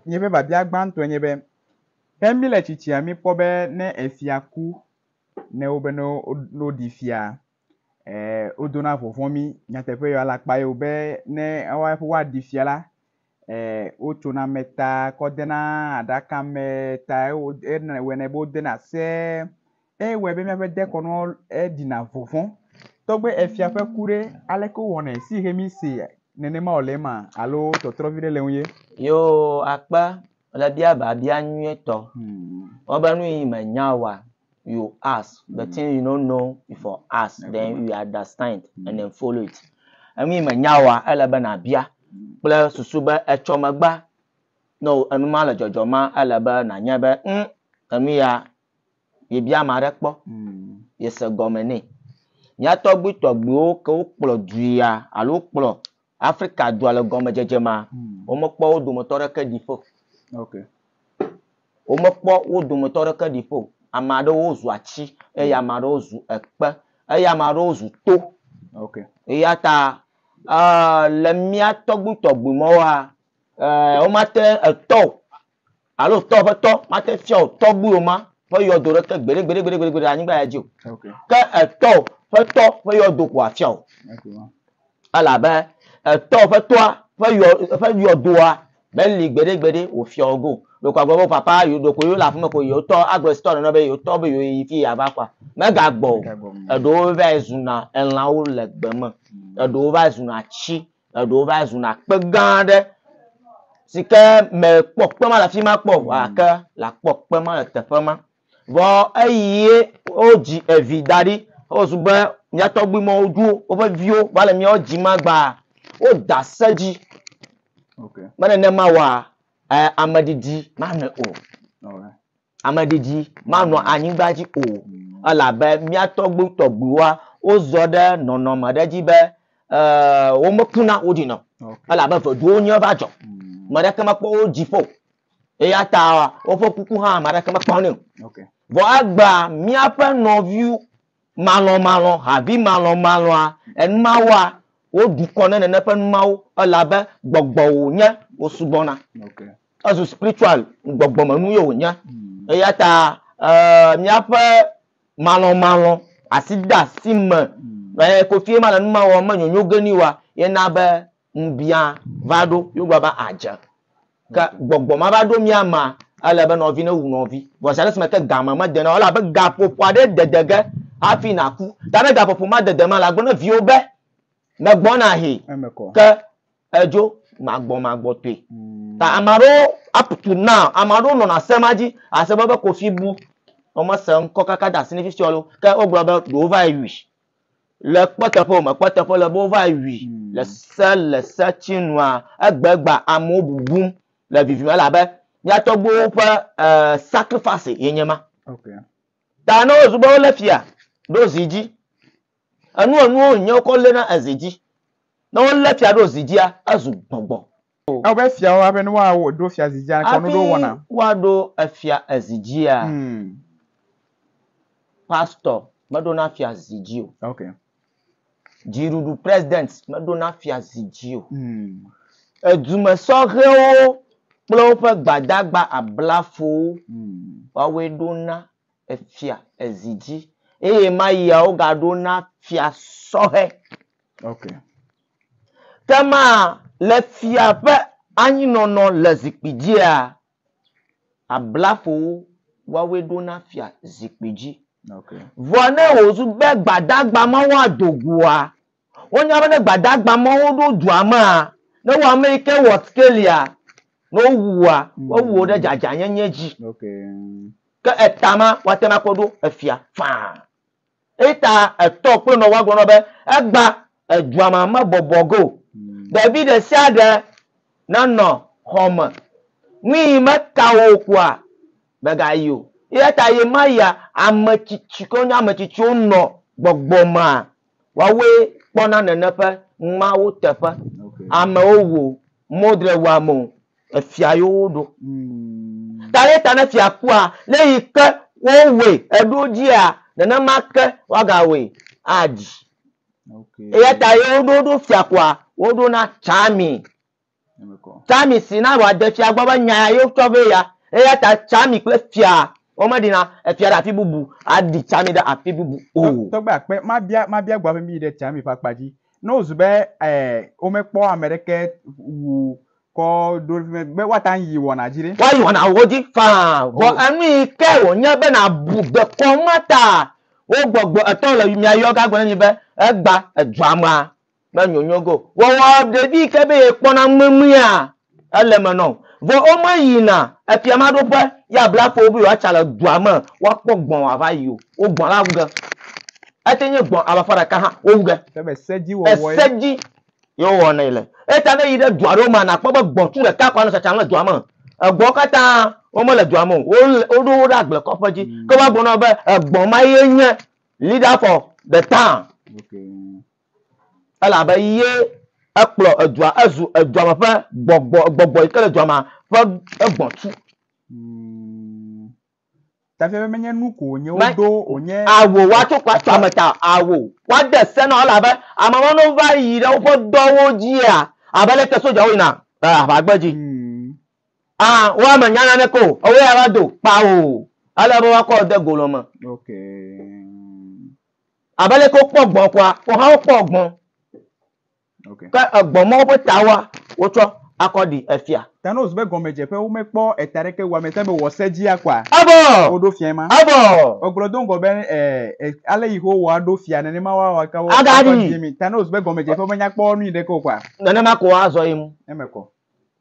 Nye ƒe biabia gbãtɔe nye be, Ke míle tsitsia míkpɔ be ne efia ku ne wobe ne woɖi fia, ee, wodona vɔvɔ̃ mí. Nyateƒee ya, ele akpa ye o be ne woaƒe be woaɖi fia la, ee, wotsona ame ta kɔ dena aɖaka me ta ewɔ, ewɔe nɛ be wodena se. Ewɔe be míaƒe dekɔnu ɖina vɔvɔ̃. Togbɔ be efia ƒe ku ɖe, aleke wowɔnɛ si he míese nenema wòle ema alo tɔtrɔ vi ɖe le eŋu ye? Yoo, akpa le bia biabia nyuietɔ. Wobe nu yi mènya oa, you ask the thing you don't know you for ask then you understand and then follow it. Enu yi mènya oa, ele be nàbia kple susu be etsɔ megba ne enu ma le dzɔdzɔm ma, ele be nànyae be ŋ, enu ya yebia ame aɖe kpɔ yese gɔme nɛ. Mía tɔgbuitɔgbuiwo ke wokplɔ duia alo wokplɔ Afrika dua le gɔmedzedze mea, womekpɔ wo dometɔ aɖeke ɖi ƒo o. Womekpɔ wo dometɔ aɖeke ɖi ƒo o. Ame aɖewo zu atsi eye ame aɖewo zu ekpe eye ame aɖewo zu to. Eya ta le mía tɔgbuitɔgbui mawoa, womate etɔ o Alo tɔ ƒe tɔ mate ŋu afia wò tɔgbuiwò ma ƒe yɔdo ɖeke gbeɖegbeɖegbeɖe le anyigba ya dzi o, ke etɔwò ƒe tɔ ƒe yɔdo ko wòafia wò. Elabe etɔwò ƒe tɔa ƒe yɔ, ƒe yɔdoa meli gbeɖegbeɖe wòfia wò ge o. Ɖeko agblɔ be wò papa yewo, ɖeko yewole aƒeme ko yewo tɔ, agblɔ le sitɔ nene be yewo tɔ be yewo yi fi yeava kɔa, megagbɔ o. Eɖewo vae zuna elãwo le gbe me. Eɖewo vae zuna atsi Eɖewo va zuna kpe gã aɖe si ke mekpɔ kpe ma le afi ma kpɔ o gake le akpɔ kpe ma le teƒe ma. Vɔ eye wodzi evi da ɖi wozu be mía tɔgbi ma woɖo woƒe viwo va le míawo dzi ma gbaa, woda se dzi be nenema oa, ameɖiɖi manɔ o. Ameɖiɖi manɔ anyigba dzi o, elabe mía tɔgbuitɔgbuiwoa, wozɔ ɖe nɔnɔme ɖe dzi be womekuna o ɖi nɔ, elabe veduwo ŋue va dzɔ. Ame aɖeke mekpɔ wo dzi ƒo o, eya ta woƒe kuku hã ame aɖeke mekpɔnɛ o. Vɔ egbea míaƒe nɔvi malɔmalɔ, havi malɔmalɔa, enumawoa, woɖu kɔ ne nene ƒe numawo, elabe gbɔgbɔwò nye wosubɔna. Ezu spiritual gbɔgbɔmenu ye wònye. Eya ta eh, míaƒe malɔmalɔ, asideasi me eh, kofi ye ma le nu ma wɔm, menyonyo ge ni wa, ye na be ŋubiã va ɖo, ye wogblɔ be adze. Ke gbɔgbɔ ma va ɖo mía mea, ele be nɔvi newu nɔvi. Vɔ zi aɖe si me ke game mede na o, ele abe gaƒoƒo aɖee dede ge hafi nàku. Ta ne gaƒoƒo ma dede mea, lagblɔ na viwò be, megbɔna hĩ. Eme kɔ. Ke Edzo magbɔmagbɔtɔe. Ta ame aɖewo up to now, ame aɖewo nɔna se ma dzi. Àse be be Kofi bu womese ŋkɔ kaka de asi na fifia loo. Ke wogblɔ be ɖewo va yi wui. Le kpɔteƒe o, mekpɔ eteƒe o, ele be wova yi wui le se le setinua egbegba amewo bubum le vivim elabe mía tɔgbuiwo ƒe e sacrifice ye nye ema. Ta ne wozu be wolé fia ɖo zi dzi Enu enuwo wònye wokɔ léna ezi dzi. Ne wolé fia ɖo zi dzia, ezu gbɔngbɔn. Ewɔ be fiawo abe ne woawo ɖo fia zi dzia, kɔnu ɖewo wɔna. Hafi woaɖo efia ezi dzia, pastɔ meɖona fia zi dzi o. Okay. Dziɖuɖu president meɖona fia zi dzi o. Edumesɔhɛwo kple woƒe gbadagba ablafowo woawoe ɖona efia ezi dzi. Eye ɣemayia wogaɖo na fia sɔhɛ. Ok. Ke ma le fia ƒe anyinɔnɔ le zikpui dzia, ablafowo woawoe ɖo na fia zikpui dzi. Ok. Vɔ ne wòzu be gbadagba ma woado goa, Wonya be ne gbadagba mawo ɖo dua mea, ne wo ame yi ke wɔ sikelia, ne wowu wòa, woawu wò ɖe dzadzanyenye dzi. Ke eta ma, woate ŋu akpɔ ɖo efia faa. Eyi ta etɔ kple nɔvɔa gblɔ na wo be, Egba edua ma mebɔbɔ ge o. Ɖevi ɖe sia ɖe nanɔ xɔ me. Nu yi meka wò o koa, mègayi o. Eya ta ɣemaɣia ame tsitsi, ke wonye ame tsitsiwo nɔ gbɔgbɔ mea, Woawoe kpɔna nene ƒe ŋmawo teƒe. Amewo wo modre wa mo efia yo wo ɖo. Ta ɖe ta ne fia kua, ne yi ke wo woe eɖo dzia, nene ma ke wa ga woe adzi. Eya ta ye wo ɖo ɖo fia kua, wo ɖo na tsa mi. Tsami si na wòade fia gbɔ be nya ya ye wotsɔ vɛ ya. Eya ta Tsami kple fia womeɖina efia ɖe afi bubu aɖi Tsami ɖe afi bubu o. Tɔgbe akpe, mabia mabia gbɔ hafi mi yi ɖe Tsami ƒe akpa dzi. Ne wòzu be eh womekpɔ ame ɖeke wu kɔ ɖo ɖe fi mɛ be woate ŋu ayi wɔna dzi ɖe? Woayi wɔnawo dzi faa. Vɔ enu yi ke wònye be nàbu dekɔnu ma taa, wo gbɔgbɔ etɔ̃ le mia yɔ ge agblɔ na mi be, Egba, èdzɔ amea. Kpe nyonyo go wɔwɔ ɖevi yi ke be yekpɔna ŋmeŋmea ele eme nɔ o. Vɔ womeyina efiamaɖoƒe ye abla ƒo wo be yewoatsa le dua me woakpɔ gbɔ̃ wòava yi o. Wo gbɔ̃ la wu ge. Ete nye gbɔ̃ alafa ɖeka hã wowu ge. Ke be sedziwɔwɔe. Ese dzi ye wowɔ nɛ le. Eya ta ne èyi ɖe du aɖewo mea, nàkpɔ be gbɔ̃ tu ɖeka koe anɔ tsatsam le dua me. Egbɔ̃wo katã womele dua me o. Wole, woɖo wo ɖe agblekoƒe dzi. Ke woagblɔ na wò be egbɔ̃ ma ye nye leader for the town. Okay. elabe ye ekplɔ edua ezu edua me ƒe gbɔgbɔ gbɔgbɔ yi ke le dua me ƒe egbɔ̃tu. Mm. Tafia be menye nu ko wònye woɖo wònye. Awo woatso kpatsoa me ta awo woade se na wo elabe ame mawo ne wova yi ɖe woƒe dɔwo dzia abe leke sodzawo yina le aʋagbe dzi. Mm. A woa me nya naneke o ewoe ava do kpao ele be woakɔ de golɔ me. Okay. Abe leke wokpɔ gbɔ̃ kɔa, woawo hã wokpɔ gbɔ̃. Okay. Ke egbɔ̃ mɔ woƒe tawoa, wotsɔ akɔ ɖi efia. Thanos ƒe gɔmedzeƒe, womekpɔ eta aɖeke wòwɔ ame sia be wòwɔ se dzia kɔa? Evɔ! Woɖo fiae ma. Evɔ! Wogblɔ do ŋgɔ be, e, e, ale Yehowa aɖo fia, nenema woawɔ ake wo. Agaɖi. Thanos ƒe gɔmedzeƒe menyakpɔ nu ɖeke o kɔa? Nenema ko azɔ yi mu. Eme kɔ.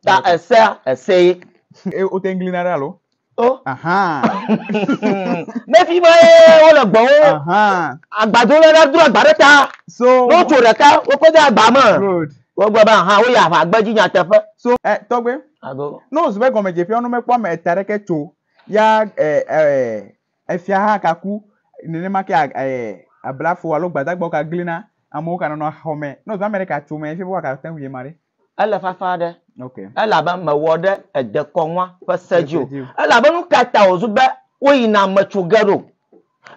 Ta esea esee. E, wote ŋu glina ɖa alo? O. Nefi ma ye wole gbɔwo. Agbado le ɖa dro agba ɖe ta. So. Wotso ɖeka wokɔ de agba me. Good. Wogblɔ be aha woyi aʋa gbe dzi nyateƒe. So ɛ tɔgbe. Ago. No zube gɔmedzeƒea no mekpɔ ame eta ɖeke tso ya ɛ ɛ efia hã ka ku nenema ke ɛ ablafo alo gbadagbawo ka glina amewo ka nɔnɔ xɔme. No zube ame ɖeka tso me efia be woaka te ŋu yema ɖe. Ele fafa aɖe. Okay. Elabe mewɔ ɖe edekɔnua ƒe se dzi o. Elabe nu ka ta wòzu be woyina metso ge ɖo?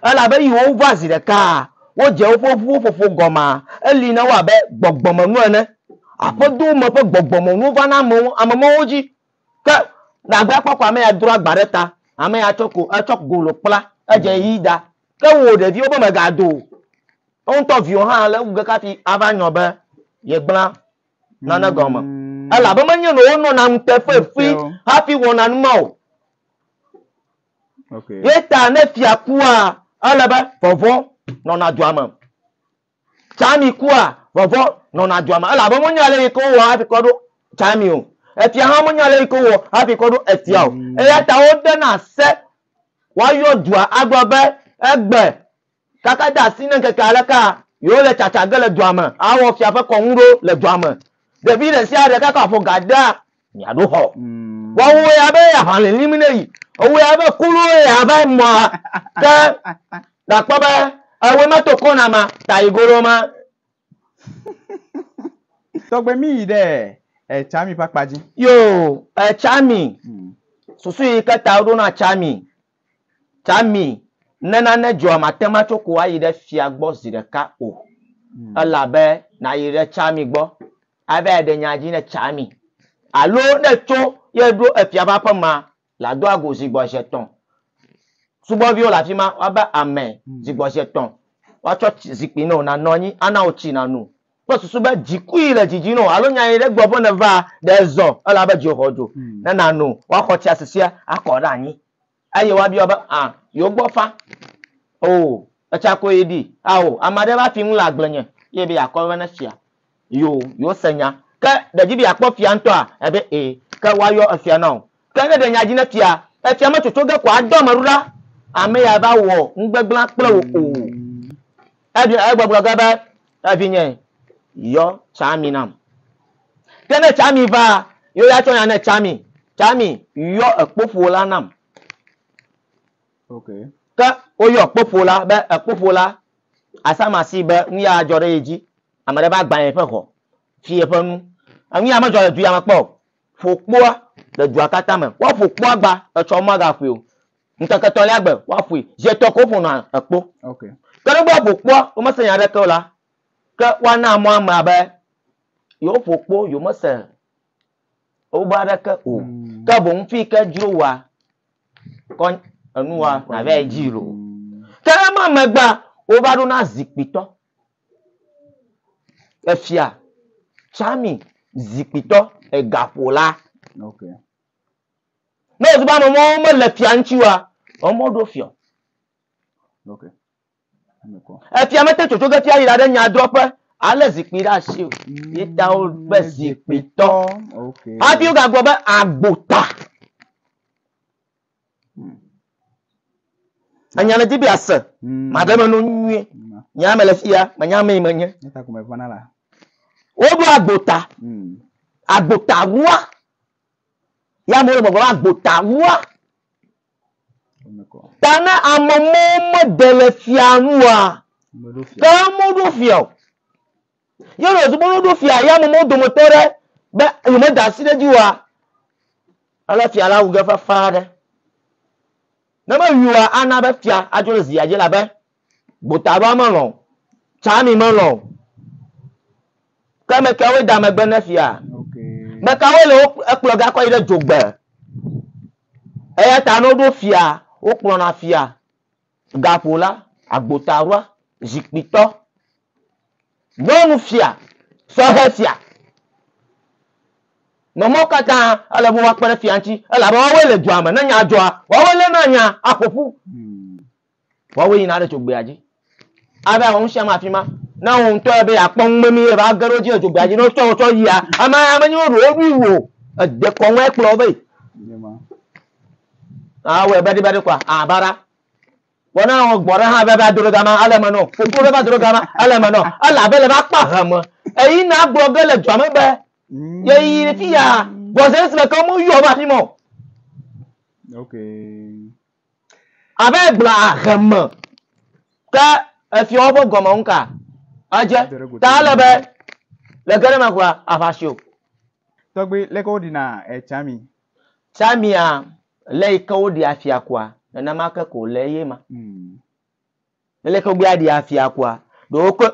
Elabe yi wova zi ɖekaa, wodze woƒe ʋuwo ƒoƒo gɔmaa. Eli na wo abe gbɔgbɔmenu ene. Aƒedowo me ƒe gbɔgbɔmenuwo vana amewo, ame mawo dzi. Ke nàgbe akpɔ ko ame ya dro agba ɖe ta, ame ya tsɔ ko etsɔ golo kpla edze mm. yi da. Ke wò ɖeviwo be mègado o. Eŋutɔ viwo hã le wu ge kafi ava nyɔ be yegbla nane gɔme. Mm. Elabe menye nɔ wonɔna nuteƒe fi hafi wɔna nu ma o. Okay. Ye ta ne fia kua, ele be vɔvɔ nɔna dua me. Tsami kua, vɔvɔ̃ nɔna dua me, elabe wonya ale yi ke wowɔ hafi kɔ ɖo Tsami o. Efia hã menya ale yi ke wowɔ hafi kɔ ɖo etia o. Eya ta wodena se woayɔ dua agblɔ be, Egbe, kaka de asi ne ŋkeke aleka yewole tsatsa ge le dua me awɔ fia ƒe kɔnu ɖo le dua me. Ɖevi ɖe sia ɖe kaka ƒo ga dea miaɖo xɔ mm. wɔwɔe abe aʋa lilim ne yi ewɔe abe kuluwo ya abe mɔ ke gakpɔ be ewe meto kɔna ma ta yi golo ma. tɔgbe mi yi ɖe etsami ƒe akpa dzi. yo etsami hmm. susu yi ke ta woɖona tsami Tammy, Ne nane dzɔa mate ŋu atso ko ayi ɖe fia gbɔ zi ɖeka o. Ele abe nàyi ɖe Tammy gbɔ ava yi ɖe nya dzi ne Tammy alo ne ètso ye ɖo efia ƒe aƒe mea, le ado agu zi gbɔ zi etɔ̃. Subɔviwo le afi ma, woava ame zi gbɔ zi etɔ̃, woatsɔ tsi zikpui na wò nànɔ anyi, ana wò tsi nàno, kple susu be dzikui le dzidzi nɔ alo nya yi ɖe gbɔ ƒe nèva ɖe zɔ ela be dzi xɔ dzo hmm. ne nano woaxɔ tsia susia akɔ ɖe anyi eye woabiɔ be a ah, yewo gbɔ fa o oh, etsa ko yi ɖi ao oh, ame aɖe va fi ŋu le agble nye ye be yeakɔ be ne fia yo yo se nya ke ɖedzi be yeakpɔ fia ŋutɔa ebe ee ke woayɔ efia na o Ke ne ɖe nya dzi ne fia, efia me tsotso ge ko adɔ ame ɖo ɖa, ame ya va wɔ nugbegblẽa kple wò o. Eɖi egbe gblɔ ge be, Evinye, yɔ tsami nam. Ke ne tsami va, ye ya tsɔ nya ne tsami, Tsami, yɔ ekpoƒo la nam. Okay. Ke woyɔ ekpoƒo la be ekpoƒo la, asama si be nu ya adzɔ ɖe ye dzi. Ame ɖe va gbã yeƒe ŋɔ, fi yeƒe nu. Enu ya medzɔ le du ya me kpɔ o. Ƒo kpoa le dua katã me. Woaƒo kpoa agba etsɔ womagaƒoe o. Ŋkeke etɔ̃lia gbe woaƒoe. Zi etɔ̃ ko woƒonɔa ekpo. Okay. Ke ne be woaƒo kpoa womese nya aɖeke o la, ke woana mɔ amea be yewoƒo kpo yewomese wobe aɖeke o. Mm. Ke boŋ fi yi ke dzro wòa kɔ enua nàvae dzi loo. Ke ema megbea wova ɖona zikpuitɔ. Efia Tsami zikpuitɔ egaƒola. Ok. Ne wòzu be ame mɔwo mele fia ŋuti oa, ame mɔwo ɖo fiɔ. Ok. Efia mete ŋu tsotso ge fia yi ɖaɖe nyadrɔƒe alé zikpui ɖe asi o. Ye ta wo be zikpuitɔ. Ok. Hafi wogagblɔ be agbota. Enya ne di be ase. Mm. Ma ɖe me no nyuie. Mm. Nya me le fia, ma nya me menye. Eta ko me vana la. Wo do agbota. Mm. Agbota rua. Ya mo le mo vana agbota rua. Ta ne amomo mo de le fia rua. Ke mo do fia. Ye wòle zɔzɔm be woɖo fia ya mumu dometɔ aɖe be yemeda asi ɖe edzi oa? Ale fia la wu ge fafa aɖe. Ne mewui oa, ana be fia adzo ɖe zia dzi elabe gbotadɔa melɔ̃ o, tsami melɔ̃ o. Ke ame kawoe da megbe ne fia? Ame kawoe le wo ekplɔ ge akɔ yi ɖe dzogbe? Eya ta ne woɖo fia, wokplɔna fia. Gaƒo la, agbotaɖoa, zikpuitɔ, nyɔnufia, sɔhɛ sia. Nɔ mɔwo katã, ele be woakpe ɖe fia ŋuti, elabe woawoe le dua me. Ne nya dzɔa, woawoe léna nya aƒo ƒu. Woawoe yina ɖe dzogbea dzi. Ava wɔ nusiame afi ma. Ne wò ŋutɔ ebe yeakpɔ numemie ava ge ɖe wo dzi le dzogbea dzi, ne wotsɔ wò tsɔ yia, amea menye woɖo wo ɖoe wu o. Ède kɔŋue kplɔ wo vɛ. Ah, wɛ badi badi kwa. Ah, bara. Wɔna wɔ gbɔ ɖe hã bɛ va dro gama ele me nɔ. Foto bɛ va dro gama ele me nɔ. Ela bɛ le va kpa he me. Eyi na gblɔ ge le dua me bɛ. Ye yi fi ya. Bɔzɛ si me ke mo yɔ va fi mo. Okay. Abe gbla he me. Ke efi wo bo gɔme nka. Aje. Ta le bɛ. Le gere me kwa avasio. Tɔgbe le ko dina e chami. Tsamia le yi ke woɖi afia kua, nenema ke ko le eye ma. Mm. Ele ke gbea ɖi afia kua, ɖe wokɔ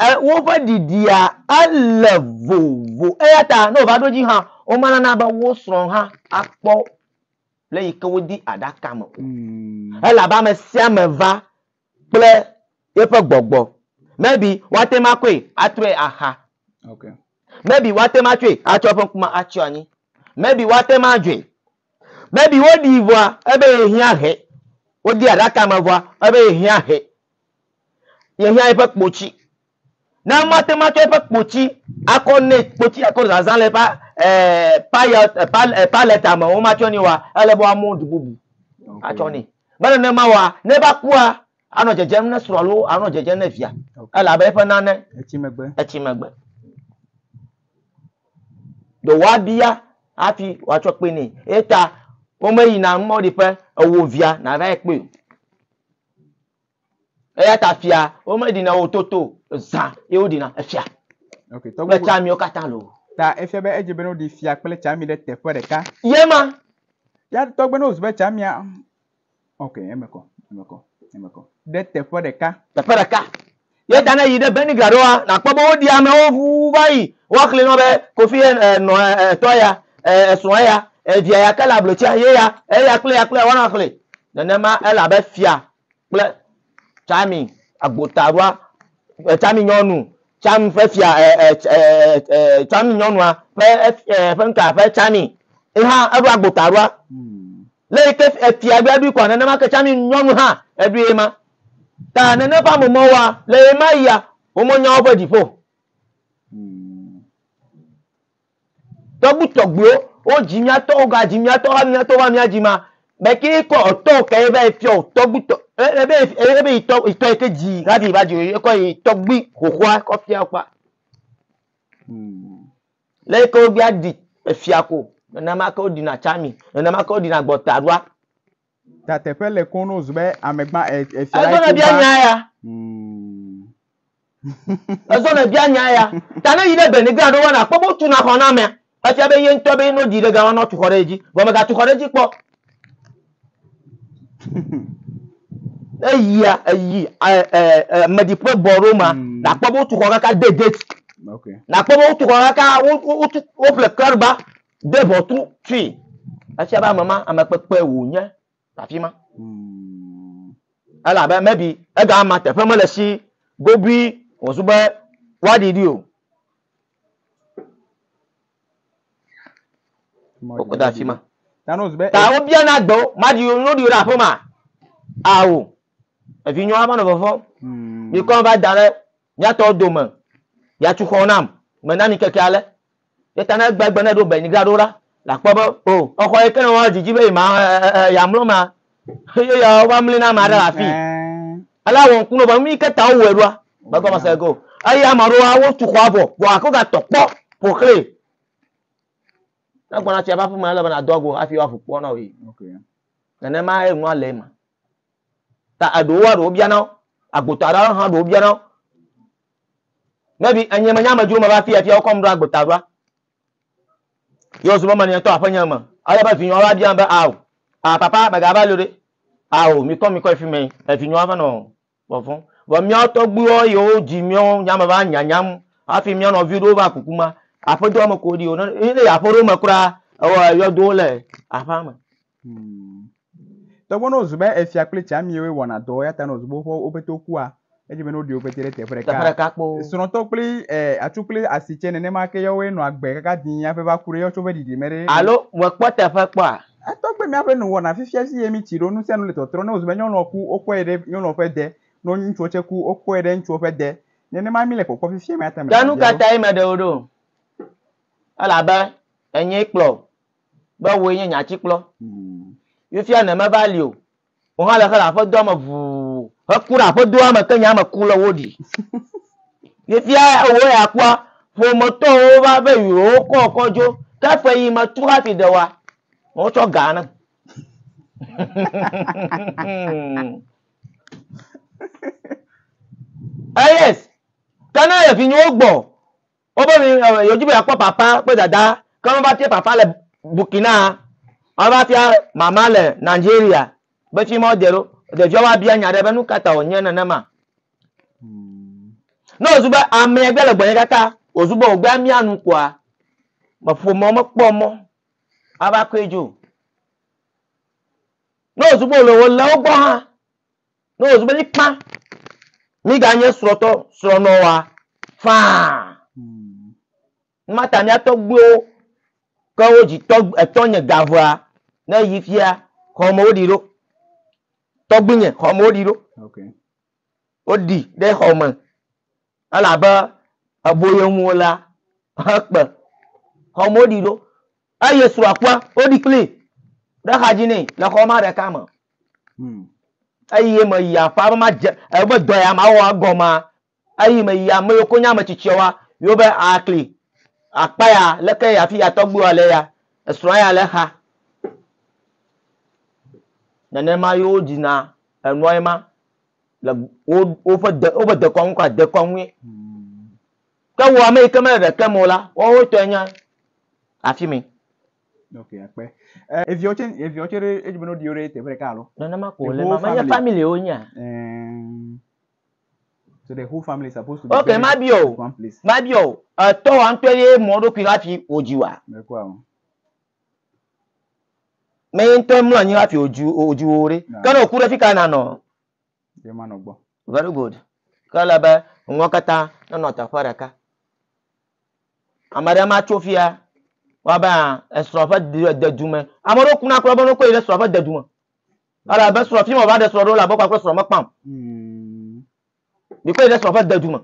e, woƒe ɖiɖia ele vovo. Eya ta ne wòva ɖo dzi hã, womelana be wo srɔ̃ hã akpɔ le yi ke wodi aɖaka me o. Mm. Elabe ame sia ame va kple yeƒe gbɔgbɔ. Maybe woate ŋu akɔe atrɔe axa. Okay. Maybe woate ŋu atsɔe atsɔ eƒe ŋkume atsyɔ anyi. Maybe woate ŋu adzɔe. Maybe woɖii vɔa ebe yehiã he. Wodee aɖaka me vɔa ebe yehiã he. Yehiã eƒe kpotsi Ne mate ŋu atsɔ eƒe kpoti akɔ nɛ, kpoti akɔ zazã le eƒe eh, payot, eh, pal, eh, paleta me, womatsɔ nɛ oa, ele be woamɔ du bubu Okay. atsɔ nɛ. Be nenema oa, ne va kua, anɔ dzedzem ne srɔ̃ alo anɔ dzedzem ne via, Okay. elabe eƒe nane Etsi megbe. etsi megbe. Ɖe woabia hafi woatsɔ kpe nɛ. Eya ta womeyina mɔɖiƒe ewo via nava yi kpɔe o. Eya ta fia womeɖina wo toto zã ye woɖina efia okay, kple tsamiwo katã lo. Ta efia be edze bene woɖi fia kple tsami ɖe teƒe ɖeka. Ye ma. Ya tɔgbe ne wozu be tsamia ok eme kɔ eme kɔ eme kɔ ɖe teƒe ɖeka. Teƒe ɖeka. Ye ta ne yi ɖe Benigra ɖoa nakpɔ be woɖi amewo ʋu va yi woaxli nɔ be kofi eh, eh, nɔ eh, tɔ ya esrɔ̃ ya evia ya ke le ablotia ye ya eya kple ya kple ya woanɔ xli nenema elabe fia kple Carmi agbotaɖoa, e, Carmi nyɔnu, Carmi ƒe fia, e, e, e, e, e, Carmi nyɔnua ƒe e, ƒe ŋka ƒe Carmi. Ye hã eɖo agbotaɖoa. Le yi ke efia ɖoa ɖoe kɔa, nenema ke Carmi nyɔnu hã eɖoe ye ma. Ta nene ƒe ame mawo wa, le ɣemaɣia, womenya woƒe dziƒo. Tɔgbutɔgbuiwo, wo dzi mía tɔ, wo ga dzi mía tɔ, va mía tɔ va mía dzi ma, be ke kɔ tɔ ke ye va yi fiɔ tɔgbutɔ, ebe ebe yi tɔ yi tɔ yi ke dzi hafi yi va dzi ye kɔ yi tɔgbui xoxoa kɔ fia wo kpa. Le yi ke wo bia ɖi efia ko, nenema ke wo ɖina tsami, nenema ke wo ɖina gbɔtaɖoa. Ta teƒe le kɔn no zube amegba e e e fia. Ezɔnɛ bia nya ya. Hmm. Ezɔnɛ bia nya ya. Ta ne yi ɖe beni gan ɖo wɔna akpɔ bo tu na xɔ na mea. Efia be ye ŋutɔ be no di ɖe gan wɔna tu xɔ ɖe edzi. Vɔ mega tu xɔ ɖe edzi kpɔ. Ne yia eyi e e e medi ƒe bɔ ɖo ma. Hmm. Na akpɔ bo tu xɔ kaka de gate. Okay. Na akpɔ bo tu xɔ kaka wo wo tu wo ple klarba. de ʋɔtru fii. Efia be ame ma, ame kpekpe wònye le afi ma. Hmm. Elabe mebi ega ma teƒe mele si gobui wòzu be woaɖi ɖi o. Wokɔ de afi ma. Ta wobiana gbe wo, maɖi wo, nuɖi wo ɖe aƒe ma. Ao, evinyɔa va nɔ vɔvɔm. Bikɔ hmm. va da ɖe Mía tɔ dome, ya tu xɔ nam, mena mi keke ale. Ye ta ne egbegbe ne ɖo Benigra ɖo la, la kpɔ be, o, exɔ yi ke ne woa didi be yi ma ya mlɔ ma, ye ya wova mli na ame aɖe le afi. Ale awɔ ŋku no be nu yi ke ta wowɔe ɖoa, me gɔme se go. Eye ame aɖewoa, wo tu xɔa vɔ, vɔ gake wo ga tɔ kpɔ ƒoxlɛ. Ne gbɔna tsia ƒe aƒeme, ele be na dɔ go hafi woaƒu kpɔ na wò yi. Nenema ye nua le ema. Ta eɖewo wa ɖewo biana wo. Agbota aɖe hã ɖewo biana wo. Ne ɖi enye menye amedzro me va fi afia wokɔm ɖo agbota ɖoa, ye wozɔ be meli ŋutɔ aƒenye me. Ale be vinyewo va biam be ao, ah papa mègava li o ɖe. Ao mikɔ mikɔ yi fi mɛ. Evinyewo ava nɔ vɔvɔ̃m. Vɔ míawo tɔgbuiwo yiwo wodzi míawo nya me va nyanyam hafi mía nɔvi ɖewo va kuku ma, aƒedoa me ko woɖi o. Ne yi aƒe ɖewo me kura, ewɔ yɔdowo le aƒea me. Togbɔ ne wòzu be efia kple tsãmiwoe wɔna dɔ eya ta ne wòzu be woƒe woƒe to kua, edze be ne woɖi wo ƒete ɖe teƒe ɖeka. Teƒe ɖeka kpo. Srɔ̃tɔ kple e, atsu kple asi tsɛ nenema ke yawoe nɔ agbe kaka dĩi hafi va ku ɖe yawo tsɛ woƒe ɖiɖime ɖe. Alo mekpɔ teƒe kpɔa? Etɔ kple míaƒe nu wɔna fifia zi ye mítsi ɖo nu sia nu le tɔtrɔ. Ne wòzu be nyɔnua ku, wokɔe ɖe nyɔnua ƒe de. Ne wonye ŋutsuwo tsɛ ku, wokɔe ɖe ŋutsuwo ƒe de. Nenema míle kpɔkpɔ fifia eya ta mele Ke ha biã ɖo. nukatae meɖe wo ɖo? Elabe enyee kplɔ be wòe nye nye atikplɔ. Fifia ne meva li o, wò hã le xe le aƒedoa me ʋuu heku ɖe aƒedoa me ke nye ame ku le wo ɖi. Fifia wò ya kpɔa, ƒometɔwo va be yewokɔ kɔ dzo ke ƒe yi me tu hafi de woa, wotsɔ ga nam. Eyes, ke ne le vinyewo gbɔ Wobe mi eh, yewodi be yeakpɔ papa kple dada, ke meva fia papa le Burkina, mava fia mama le Nigeria. Be fi ma wode ɖo. Ɖevia woabia nya ɖe be nu ka ta wònye nenema. Ne wòzu be amea gbea le gbɔnye kaka wòzu be wògbea mia nu kɔa, me ƒomea womekpɔ mɔ ava kɔe dzo. Ne wòzu be wòle wòle wo gbɔ hã, Ne wòzu be mí kpã, míganye srɔ̃tɔ, srɔ̃nɔa faa. Mata mía tɔgbuiwo ke wo dzi tɔ, etɔnye gavea ne yi fia xɔme woɖi ɖo. Tɔgbuinye xɔme woɖi ɖo. Okay. Woɖi ɖe xɔme elabe eboyem wolea hekpe. Xɔme woɖi ɖo. Eye srɔ̃a kpɔa, woɖi kplii ɖe axadzi nɛ le xɔ ma ɖeka me. Hmm. Eye meyi aƒea be madze ebe dɔ ya mawɔ egɔmea, eye meyi ame yiwo konye ame tsitsiawoa ywo be akli akpa ya leke ya fi ya tɔgbuiwoa le ya, esrɔ̃a ya le exa. Nenema ye wodzina enua ye ma le wo woƒe de woƒe dekɔnu kple dekɔnue. Hmm. Ke wò ame yi ke mele ɖekem o la, woawo tɔe nye afimɛ. Ok, akpe. Eh, eviawo tse, eviawo tse ɖe edzi be ne woɖi wo ɖe teƒe ɖeka alo? Nenema ko wòle ema. Menye family wo nyea? Eh, so the whole family is supposed to be okay, ma bio, one place. Ma bio, etɔ wa ŋutɔ ye mɔ ɖokui la fi wòdzi wa. Mekua o. Mɛ ye ŋutɔ mlɔ anyi la fi wòdzi wò ɖe. Ke ne wòku ɖe fi ka nanɔ? Ye ma nɔ gbɔ. Very good. Ke ele be nuwo katã nenɔ teƒe ɖeka. Ame ɖe ma tso fia wa be a esrɔ̃ ƒe dedu me. Ame ɖewo kuna kura be ne wokɔe yi ɖe srɔ̃ ƒe dedu me. Ele be srɔ̃ fi ma va ɖe srɔ̃ ɖo la be kpakple srɔ̃ mekpam. Hmm. Bikɔ yi ɖe srɔ̃ ƒe dedu me.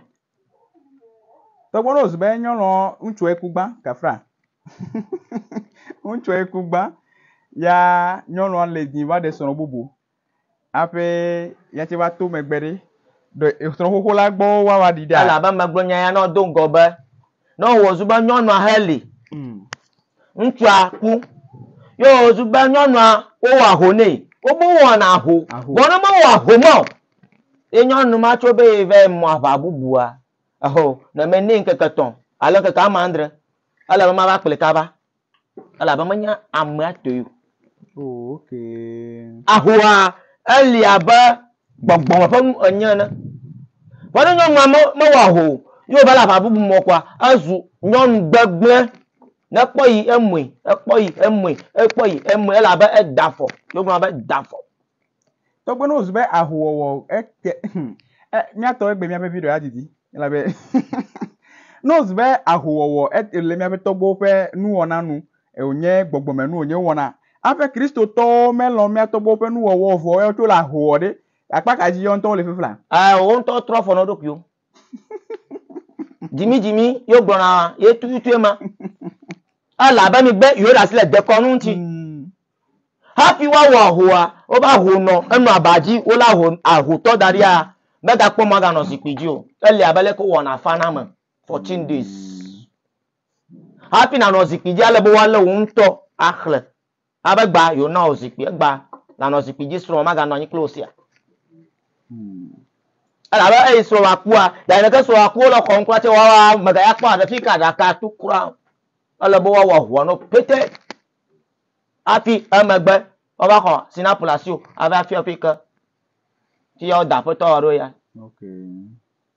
Te gbɔdɔ zu be nyɔnɔ ŋutsu eku gbã kafra. Ŋutsu eku gbã ya nyɔnua le di va ɖe srɔ̃ bubu. Aƒe yatse va to megbe ɖe, ɖe srɔ̃xoxo la gbɔ woawa ɖi ɖa? Elabe megblɔ nya ya na wò do ŋgɔ be, ne wòwɔ zu be nyɔnua heli, ŋutsua ku, ye wòwɔ zu be nyɔnua wowɔ aho nɛ, wobu wowɔna aho, vɔ ne mewɔ aho ma o, ye nyɔnu ma tso be ye va yi mɔ aʋa bubua, eho, ne menɛ ŋkeke etɔ̃ alo ŋkeke amadre, ele be mava kplii kaba. elabe menya amea toe o. Oh, okay. Ahoa eli abe gbɔgbɔ me ƒe nu enye ene. Vɔ ne nyɔnua me, mewɔ aho o, ye wòva le aʋa bubu me kɔa, ezu nyɔnu gbegblẽ. Ne ekpɔ yi, emue, ekpɔ yi, emue, ekpɔ yi, emue, ele abe eda afɔ. Ye wogblɔna be da afɔ. Tɔgbe ne wòzu be ahowɔwɔ ete hmm, e, míatɔ egbe míaƒe video adidi elabe ne wòzu be ahowɔwɔ ete le míaƒe tɔgbewo ƒe nuwɔna nu e, wònye gbɔgbɔme nu wònye wɔna. Aƒe Kristotɔwo melɔ mía tɔgbewo ƒe nuwɔwɔ vɔ eya wotso le ahowɔ ɖe akpa ka dzi yɔ ŋutɔ wole fifla. Aa, wo ŋutɔ trɔ afɔ na wo ɖokuiwo. Dzimidzimi yóò gblɔna ye tututue ma. Elabe migbe yóò ɖasi le dekɔnu ŋuti. Hafi woawɔ ahoa, woƒe aho nɔ enɔ aba dzi, wolé aho, ahotɔ da ɖia, megakpɔ mɔ aganɔ zikpui dzi o. Ele abe leke wowɔna afana ame, fourteen days. Hafi nànɔ zikpui dzi, ele be woalé wò ŋutɔ axle Na be gba yewo na wò zikpui egba nanɔ zikpui dzi srɔ̃ maga nɔ anyi kple wò sia. Ela be eyi srɔ̃ wa kpua ya yi neke srɔ̃ wa kpua le xɔm kura tse wa wa mega ya kpɔ aɖe fi ka ɖaka tu kura. Ele be wa wa hua no pete. Afi emegbe wa va xɔ sinapu le asi wò ava fi afi ke. Fi ya wo da aƒetɔ wa ɖo ya. Okay.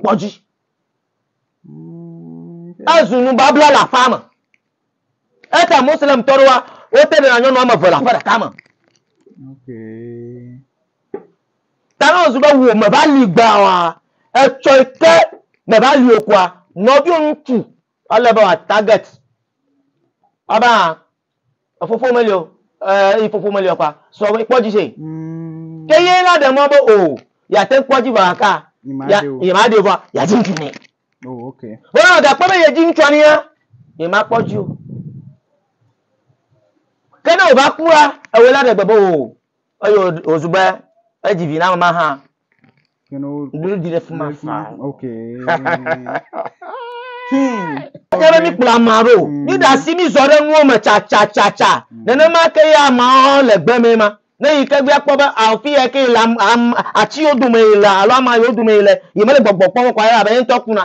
Kpɔ dzi. Ezu nubabla le aƒea me. Ete Muslimtɔ ɖoa, wote ɖe na nyɔnu ame eve le aƒe ɖeka me. Ta ne wòzu be wò meva li gbãa, etsɔe ke meva li o koa, nɔviwò ŋutsu ele be wòatarget. Ebe Efofo meli o. Ɛɛ, eyi fofo meli o kpa. Srɔ̃ be kpɔ dzi se. Mm. Ke ye la ɖe mɔ be o yeate kpɔ dzi vɔ aka. Yema ɖeo. Yema ɖeo vɔ yadzi ŋutsu nɛ. Oh, ok. Vɔ ne gakpɔ be yedzi ŋutsua nea, yema kpɔ dzi o. Ke ne o va kua, ewe la ɖe gbe be o. Eye wòzu be edzi vi na ame ma hã. Ɖuɖu ɖi ɖe fi ma faa. Enye be míkplɔ ame aɖe o, míɖe asi mízɔ ɖe nuwo me tsatsatsatsa. Nenema ke ye ameawo hã le gbe mee ma. Ne yi ke be akpɔ be afi yae ke yele, ati yiwo dome yele alo ama yiwo dome yele, yemele gbɔgbɔ kpɔm o kɔ la, elabe ye ŋutɔ kuna.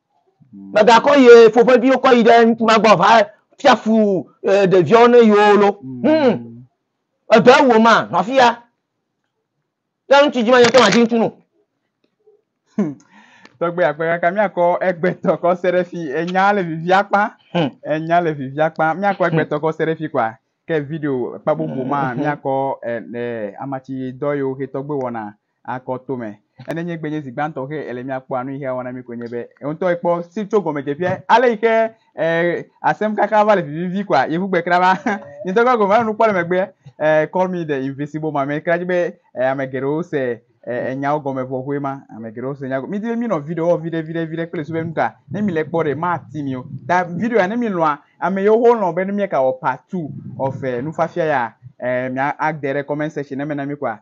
Mègakɔ yi ƒoƒeviwo kɔ yi ɖe ŋutsu ma gbɔ va fia fu ɖeviawo ne yewo lo. Mm. Edɔ ewu ma, nɔ afi ya. Ne ŋutsu dzi ma nyɔtɔ ma dzi ŋutsu nu. Hmm. Tɔgbe akpe kaka míakɔ egbetɔ kɔ se ɖe fi enya le vivia kpa. Hmm. Enya le vivia kpa. Míakɔ egbetɔ kɔ se ɖe fi kpa. Ke video kpa bubu ma míakɔ eh, eh, amatsi dɔ yewo ke tɔgbe wɔna. akɔ to me. Ene nye gbe nye zi gbãtɔ xe ele mia kpɔa nu yi xe awɔ na mi ko nye be eŋtɔ ekpɔ si tso gɔme dze ƒia ale yi xe e asem kaka va le vivivi koa yevu gbe kra va nye ŋtɔ kpɔ gɔme nu kpɔ le megbe e call me the invisible ma me kra dzi be e ame geɖewo se e enyawo gɔme vɔ hoe ma ame geɖewo se nyago mi di be mi nɔ video wɔ viɖe viɖe viɖe kple su be nuka ne mi le kpɔ ɖe ma ti mi o ta video ya ne mi lɔa ame yewo ho lɔ be ne mi ka wɔ part two of e nufafia ya e mia ade ɖe comment section ne me na mi koa